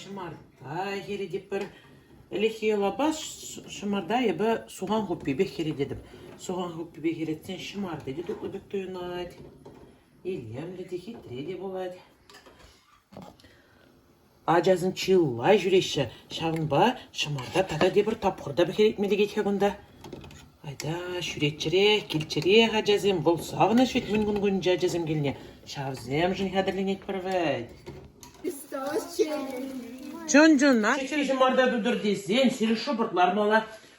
Ҫӑмарта хӗретӗпӗр. Ӗлӗкхи йӑлапа ҫӑмарта эпӗ сухан хуппипе хӗрететӗп. Сухан хуппипе хӗретсен ҫӑмарта те тутлӑ пек туйӑнать. Илемлӗ те хитре те пулать. Ачасем чылай ҫӳреҫҫӗ, ҫавӑнпа ҫӑмарта тата тепӗр тапхӑр та пӗҫеретме лекет-ха кунта. Айта, ҫӳреччӗрех, килччӗрех ачасем, вӑл савӑнӑҫ вӗт мӗн-кун кунччен ачасем килне. Ҫавсемшӗн хатӗрленетпӗр вӗт. Чун-чунах хӗл ҫӑмарта тутӑр тесен сирӗн шӑпӑрт лармалла.